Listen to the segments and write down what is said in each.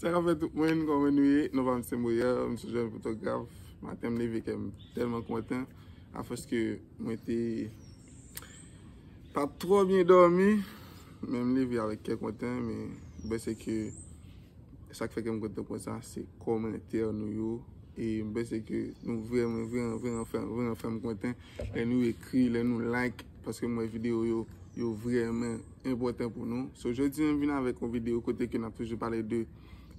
Sa ka fè tout mwen kon mwen nouye, nou pa mse mou ya, mse jè yon fotograf, ma tem leve kèm telman konten, a fòs ke mwen te pa trò byen dòmi, men m leve avèk kè konten, men bè se ke sa k fè kèm konten kon sa, se komantè nou yo, e bè se ke nou vre mwen vre an vre an fèm konten, lè nou ekri, lè nou like. Paske m wè video yo, yo vrèmen enpòtan pou nou. So jodi an m vin avèk yon video kote ke n ap toujou pale de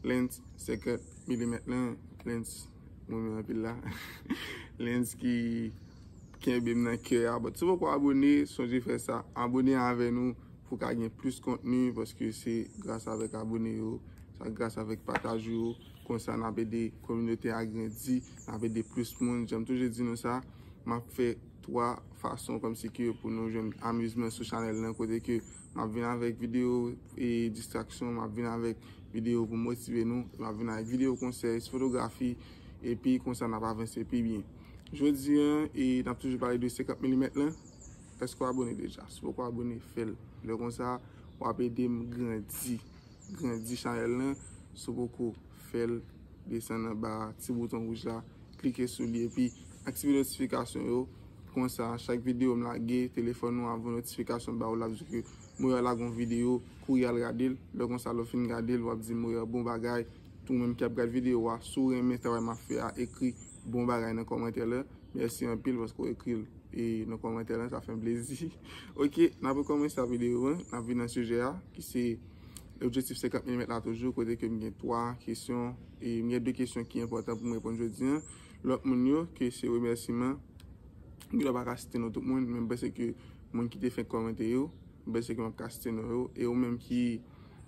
lens 50 milimèt lan, lens m renmen anpil la, lens ki kenbe m nan kè a. But si w poko abone, sonje fè sa. Abone avè nou pou w ka gen plis kontni paske se gras avèk abone yo, sa gras avèk pataj ou yo. Konsa n ap ede kominote a grandi, n ap ede plis moun. Jan m toujou di nou sa, m ap fè. 3 fason kòmsi ke pou nou jwenn amizman sou chanèl lan kote ke map vin avèk video e distraksyon map vin avèk video pou motive nou map vin avèk video konsèy sou fotografi epi konsa nap avanse pi byen jodi an e nap toujou pale de 50 milimèt lan èske w abone deja si w poko abone fèl lè konsa wap edem grandi. Grandi chanèl lan si w poko fèl desann anba ti bouton wouj la klike sou li epi aktive notifikasyon yo konsa chak videyo m lage telefòn ou ap voye notifikasyon ba ou lap di ke Moya lage yon videyo kouri al gade l lè konsa lè w fin gade l wap di Moya bon bagay ou menm ki ap gad videyo a si w renmen travay map fè a ekri bon bagay nan kòmantè la mèsi anpil paske ou ekri l e nan kòmantè la sa fè m plezi ok n ap rekòmanse a videyo an n ap vin nan sijè a ki se objektif 50 milimèt la toujou kote ke m gen 3 kesyon e m gen 2 kesyon ki enpòtan pou m reponn jodi an lòt moun yo ke se remèsiman m gen dwa pa ka site non tout moun men m panse ke moun ki te fenk kòmante yo m panse ke m ap ka site non yo e ou menm ki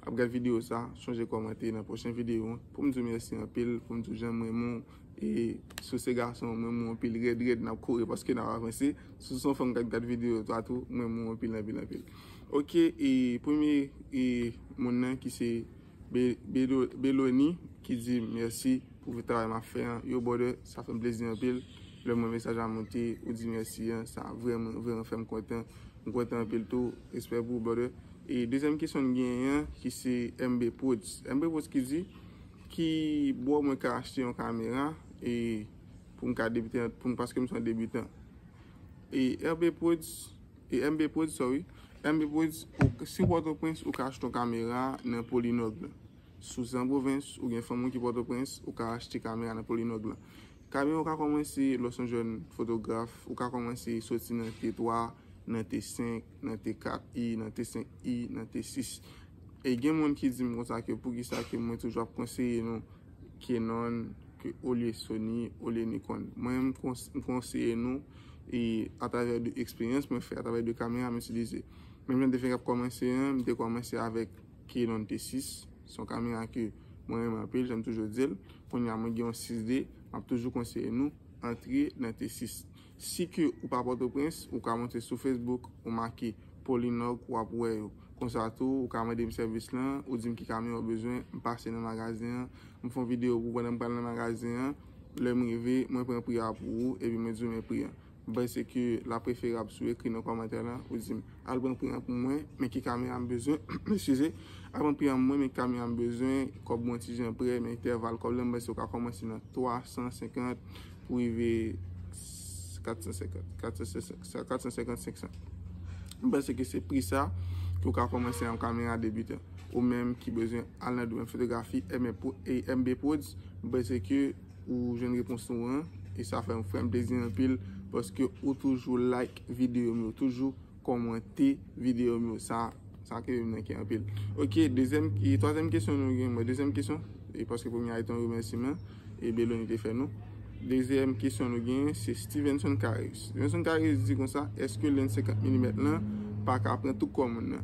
ap gad videyo sa chonje kòmante nan pwochen videyo an pou m di w mèsi anpil pou m di w jan m renmen w. E si w se gason, m renmen w anpil. Rèd rèd n ap kore paske n ap avanse. Si w se yon fanm k ap gad videyo sa tou, m renmen w anpil anpil anpil. Ok, e premye e moun nan ki se Belony ki di m mèsi pou travay m ap fè an. Yow brother, sa fè m plezi anpil lè m wè mesaj la monte, ou di m mèsi an. Sa vrèman vrèman fè m kontan. M kontan anpil tou. Respè pou ou brother. E dezyèm kesyon n genyen an ki se MBProds. MBProds ki di. Ki bò mwen ka achte yon kamera e pou m ka debite an pou m paske m son debutan. E RB Prodz e MB Prodz sorry MB Prodz si w pòtoprens ou ka achte yon kamera nan polinòg lan. Si w san pwovens ou gen fanmi w ki pòtoprens ou ka achte kamera nan polinòg lan. Kamera ou ka kòmanse lè w son jèn fotograf ou ka kòmanse soti nan T3 nan T5 nan T4 e nan T5 e nan T6. E gen moun ki dim konsa ke poukisa ke mwen toujou ap konseye nou Kenon olye Sony, olye Nikon. Mwen m konseye nou e atravè de eksperyans mwen fè, atravè de kamera m itilize. Menm jan m te fenk ap kòmanse an, m te kòmanse avèk Kenon T6, son kamera ke mwen renmen anpil, jan m toujou di l. Kounya mwen gen yon 6D, m ap toujou konseye nou antre nan T6. Si ke ou pa pòtoprens, ou ka monte sou Facebook, ou make Polinòg ou ap wè yo. Konsa tou, ou ka mande m sèvis lan, ou di m ki kamyon ou bezwen, m pase nan magazen an, m fon video pou ou pandan m pral nan magazen an, lè m rive, mwen pran pri a pou ou, epi mwen di w men pri an. M panse ke la preferab si w ekri nan kòmantè lan, ou di m, al pran pri an pou mwen, men ki kamyon a m bezwen, eskize, al pran pri an pou mwen, men ki kamyon a m bezwen, kòb mwen ti jan prè, men entèval kòb lan, m panse ou ka kòmanse nan 350, pou rive 450, 450, 500. M panse ke se pri sa ki ou ka komanse yon kamera debitan. Ou menm ki bezwen al nan domen fotografi MB Prodz, m panse ke ou jwenn repons ou an. E sa fè m frèm plezi anpil paske ou toujou like videyo m yo toujou. Kòmante video m yo sa sa k rive m nan kè anpil ok dezyèm e twazyèm kesyon nou gen mwen dezyèm kesyon e paske premye a te yon remèsiman e Belony te fè nou dezyèm kesyon nou gen se Stevenson Careus Stevenson Careus di konsa èske lenn 50 milimèt lan pa ka pran tou kò moun nan.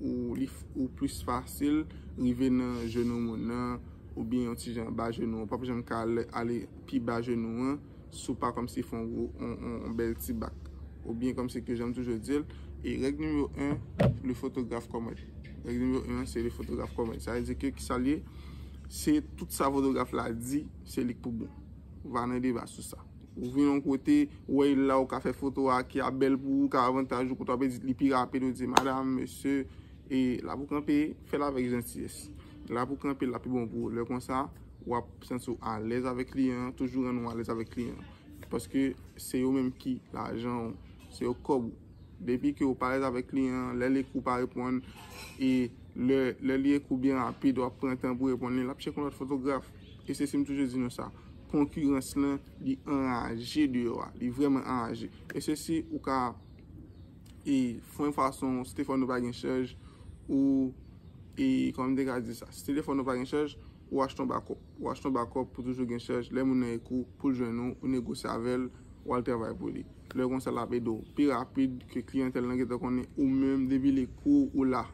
Ou plis fasil rive nan jenou moun nan ou byen yon ti jan anba jenou an. Ou pap janm ka ale pi ba jenou an si w pa kòmsi fè yon bèl ti bak. Ou byen kòmsi ke jan m toujou di l. E règ nimewo 1, le fotograf kòmèt. Règ nimewo 1 an se le fotograf kòmèt. Sa vle di ke ki sa l ye? Se tout sa fotograf la di, se li k pou bon. Va nan deba sou sa. Ou vin yon kote, ou wè il la, ou ka fè foto a ki ap bèl pou ou, ka avantaj ou, kote w ap edit li pi rapid, ou di madam, mesye, e la pou kanpe, fè l avèk jantiyès. La pou kanpe, la pi bon pou ou. Lè kon sa, w ap santi w alèz avèk kliyan an, toujou rann ou alèz avèk kliyan an. Paske se yo menm ki lajan ou, se yo kòb ou. Depi ke ou pa alèz avèk kliyan an, lè l ekri w pa reponn, e lè li ekri w byen rapid, w ap pran tan pou reponn li, l ap chèke yon lòt fotograf. E se si m toujou di nou sa. Konkirans lan li anraje deyò a. Li vrèman anraje. E se si ou ka e fè yon fason si telefòn ou pa gen chaj ou e kòman m te ka di sa. Si telefòn ou pa gen chaj ou achte yon bakòp. Ou achte yon bakòp pou toujou gen chaj. Lè moun nan ekri w pou l jwenn ou, ou negosye avè l, ou al travay pou li. Lè konsa lap ede w pi rapid ke kliyantèl lan gentan konnen ou menm depi li kou ou la.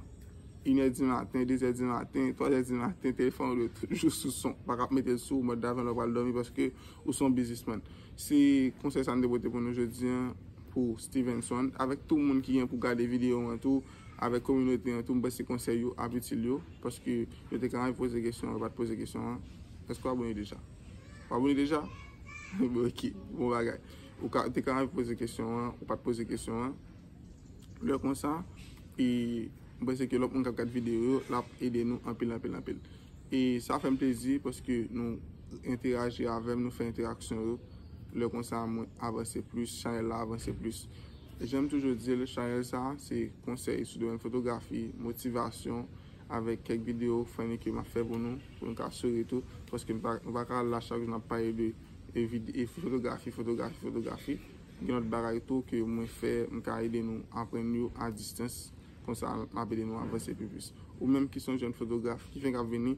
Inè di maten, dezè di maten, twazè di maten telefòn ou dwe toujou sou son. Ou pa kap mete l sou mòd daven lè w pral dòmi paske ou se yon biznisman. Se konsèy sa m te pote pou nou jodi an pou Stevenson avèk tou moun ki gen pou gade videyo an tou avèk kominote an tou m panse konsèy yo ap itil yo paske yo te ka anvi poze kesyon yo pat poze kesyon an. Èske w abone deja? Ou abone deja? Bon ok. Bon bagay. Ou ka, te ka ap poze kesyon an, ou pat poze kesyon an. Lè konsa, e m panse ke lòt moun kap gad videyo yo, l ap ede nou anpil, anpil, anpil. E sa fè m plezi paske nou enteraji avè m, nou fè enteraksyon yo. Lè konsa mwen avanse plis, chanèl la avanse plis. Jan m toujou di l, chanèl sa a se konsèy sou domèn fotografi, motivasyon, avèk kèk videyo funny ke m ap fè pou nou, pou nou ka souri tou. Paske nou pa ka la chak jou n ap pale de. e fotografi fotografi fotografi gen lòt bagay tou ke mwen fè m ka ede nou aprann yo a distans konsa m ap ede nou avanse pi plis ou menm ki son jèn fotograf ki fenk ap vini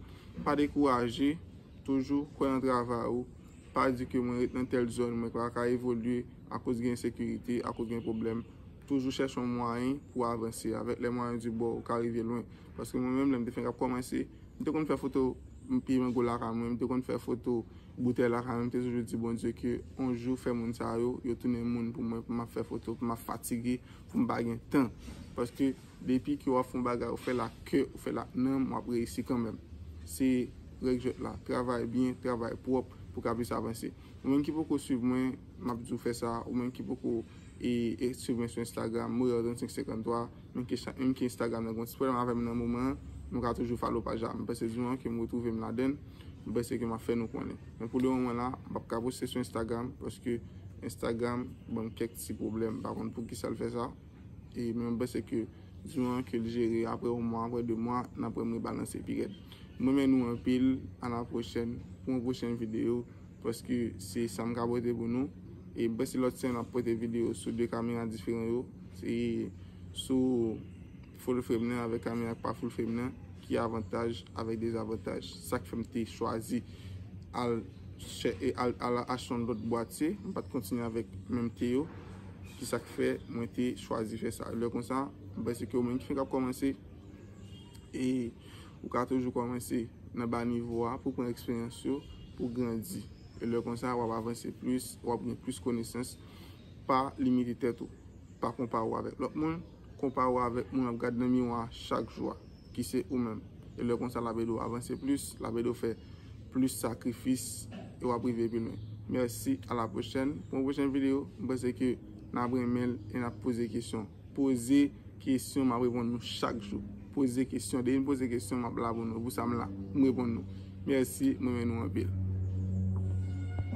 pa dekouraje toujou kwè nan travay ou pa di ke mwen ret nan tèl zòn mwen pa ka evolye akoz gen ensekirite akoz gen pwoblèm toujou chèche yon mwayen pou w avanse avèk lè mwayen di bò ou ka rive lwen paske mwen menm lè m te fenk ap kòmanse m te konn fè foto m piye mango lakay mwen m te konn fè foto. Boutèy la kanmèm te toujou di Bondye ke on jou fè moun sa yo, yo tounen moun pou mwen pou map fè foto, pou map fatige, pou m pa gen tan. Paske depi ke wap fè yon bagay ou fèl ak kè, ou fèl ak nanm, wap reyisi kanmèm. Se règ jwèt la, travay byen, travay pwòp pou ka plis avanse. Ou menm ki poko swiv mwen, map di w fè sa, ou menm ki poko e swiv mwen sou Instagram, Moyar 3553. Mwen ke chak moun ki instagram nan gon ti pwoblèm avèm nan moman an nou ka toujou follow paj la mwen panse jou an kem retrouvem ladann mwen panse ke map fè nou konnen men pou le moman la mpap ka poste sou instagram paske instagram banm kèk ti pwoblèm mpa konn poukisal fè sa e men mwen panse ke jou an kel jere aprè yon mwa aprè 2 mwa nap wèm rebalanse pi rèd mwen renmen nou anpil a la pwochèn pou yon pwochèn video. Paske se sa m ka pote pou nou. E bèsi lòt semèn map pote videyo sou 2 kamera diferan yo. Se sou full frame nan avèk kamera ki pa full frame nan. Ki avantaj avèk dezavantaj. Sak fèm te chwazi al achte yon lòt bwatye. M pat kontinye avèk menm te yo. Ki sak fè mwen te chwazi fè sa. Lè konsa bèsi ke ou menm ki fenk ap kòmanse. E. Ou ka toujou kòmanse nan ba nivo a pou pran eksperyans yo, pou grandi. E lè konsa, wap avanse plis, wap gen plis konesans. Pa limite tèt ou. Pa konpare ou avèk lòt moun. Konpare ou avèk moun wap gad nan miwa a chak jou a, ki se ou menm. E lè konsa lap ede ou avanse plis, lap ede ou fè plis sakrifis e wap rive pi lwen. Mèsi, a la pwochèn pou yon pwochèn videyo. M panse ke nap renmen l e nap poze kesyon. Poze kesyon map reponn nou chak jou. Poze kesyon depi nou poze kesyon map la pou nou. Pou sa m la m reponn nou. Merci m renmen nou anpil.